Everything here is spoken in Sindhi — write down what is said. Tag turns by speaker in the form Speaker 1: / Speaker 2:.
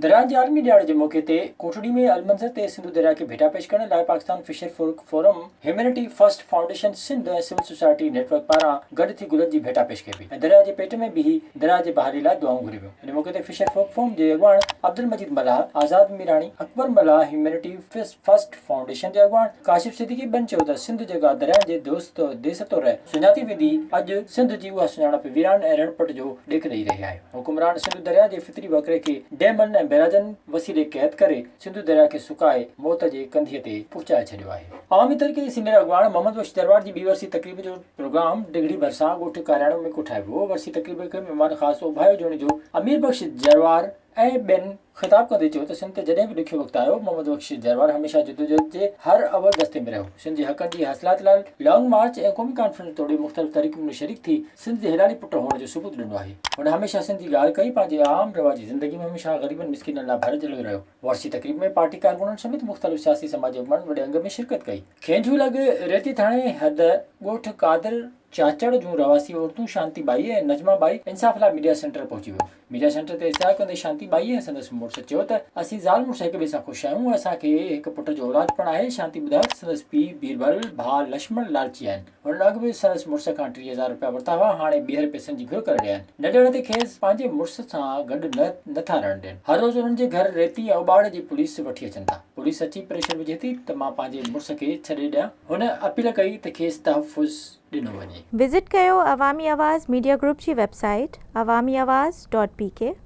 Speaker 1: درياهن جي عالمي ڏهاڙي جي موقعي تي ڪوٽڙي ۾ المنظر تي سنڌو درياهه کي ڀيٽا پيش ڪرڻ لاء Pakistan fisher folk forum, humanity first foundation Sindh ۽ civil society network پاران گڏ ٿي گلن جي ڀيٽا پيش ڪئي وئي ۽ درياهه جي پيٽ ۾ بيهي درياهه جي بحالي لاء دعائون گهري ويون. ان موقعي تي فشر فولڪ فورم جي اڳواڻ Abdul Majeed Mallah, Azad Mirani, Akbar Mallah, humanity first. First foundation جي اڳواڻ ڪاشف صديقي ٻن چيو ته سنڌ جيڪا درياهن جي دوست ديس طور سڃاتي ويندي، اڄ سنڌ جي اها سڃاڻپ ويران ۽ رڻ پٽ جو ڏيک ڏئي رهي آهي. حڪمران سنڌو درياهه جي فطري وهڪري کي ڊيمن ۽ بيراجن وسيلي قيد ڪري سنڌو درياهه کي سڪائي موت جي ڪنڌيء تي پهچائي ڇڏيو آهي. عوامي تحريڪ جي سينيئر اڳواڻ محمد بخش درواڙ جي ٻي ورسي تقريب جو پروگرام ڊگهڙي ڀرسان ڳوٺ ڪارياڻو ۾ ڪوٺايو ويو. ورسي تقريب کي مهمان خاص اوڀايو جوڻيجو امير بخش جروار، ۽ ٻين خطاب ڪندي چيو ته سنڌ تي جڏهن به ڏکيو وقت آيو، محمد بخش جروار هميشه جدوجهد جي هر اول دستي ۾ رهيو، سنڌ جي حقن جي حاصلات لاء لانگ مارچ ۽ قومي ڪانفرنس توڙي مختلف تحريڪن ۾ شريڪ ٿي سنڌ جي هيڏاري پٽ هئڻ جو ثبوت ڏنو آهي، هن هميشه سنڌ جي ڳالهه ڪئي، پنهنجي عام رواجي زندگي ۾ هميشه غريبن مسڪينن لاء ڀر جهليو رهيو، ورسي تقريب ۾ پارٽي ڪارڪنن سميت مختلف سياسي سماجي اڳواڻن وڏي انگ ۾ شرڪت ڪئي. کينجهو لڳ ريتي ٿاڻي حد ڳوٺ قادر چاچڙ جون رهواسي عورتون شانتي ٻائي ۽ نجمه ٻائي انصاف لاء ميڊيا سينٽر پهچي ويون، ميڊيا سينٽر تي اشتعال ڪندي شانتي ٻائيء ۽ سندس مڙس چيو ته اسين زال مڙس هڪ ٻئي سان خوش آهيون ۽ اسان کي هڪ پٽ جو اولاد پڻ آهي، شانتي ٻڌايو ته سندس پيء بيربل، ڀاء لشمڻ لالچي آهن، هن اڳ به سندس مڙس کان ٽيهه هزار رپيا ورتا هئا، هاڻي ٻيهر پئسن جي گهر ڪري رهيا آهن، نه ڏيڻ تي کيس پنهنجي مڙس سان گڏ نه نه ٿا رهڻ ڏين، هر روز انهن جي گهر ريتي ۽ اٻاڙ جي پوليس وٺي اچن ٿا، پوليس اچي پريشر وجهي ٿي ته مان پنهنجي مڙس کي ڇڏي ڏيان، هن اپيل ڪئي ته کيس تحفظ. ڏنو وڃي. وزٽ ڪيو
Speaker 2: عوامي آواز ميڊيا گروپ جي web
Speaker 1: site
Speaker 2: Awami Awaz dot P ڪي.